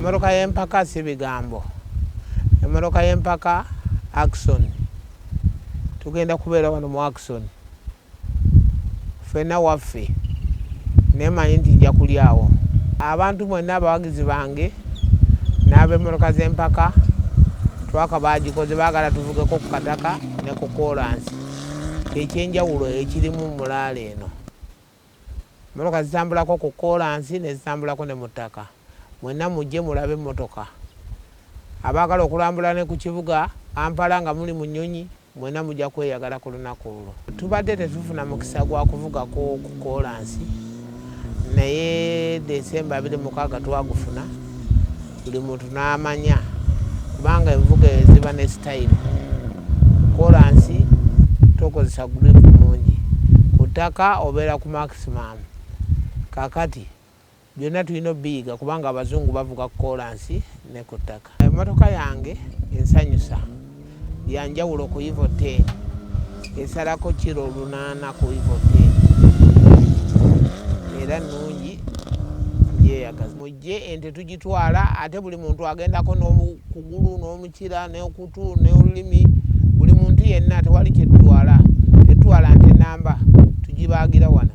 Emmotoka y'empaka si bigambo. Emmotoka y'empaka Akson. Tugenda kubeera wano mu Akson. Ffenna waffe. Naye manyi nti nja kulyawo. Abantu mwenna abawagizi bange n'ab'emmotoka z'empaka twaka baagikoze baagala tuvugeko ku kataka ne ku koolansi. Kyekyenjawulo ekirimu mulaala eno. Mmotoka zitambulako ku kkoolansi ne zitambulako ne mu ttaka. Mwenna mujje mulabe emmotoka. Abaagala okulambula ne ku kibuga Kampala nga muli mu nnyonyi, mwenna mujja kweyagala ku lunaku olwo. Tubadde tetufuna mukisa gwa kuvugako ku kkoolansi naye December abiri mu mukaaga twagufuna. buli muntu n'amanya kubanga envuga eyo ziba ne sitayiro kolansi tokozesa guripu mungi ku ttaka obeera ku maximum kakati byonna tulina obiyiga kubanga abazungu bavuga ku kolansi ne ku ttaka emotoka yange ensanyusa yanjawulo ku ivo 10 esalako kiro lunaana ku ivo 10 era nungi njeyagaza mujje ente tugitwala ate buli muntu agendako n'okugulu n'omukira n'okutu n'olulimi buli muntu yenna tewali kyetutwala tetutwala nte namba tugibaagira wano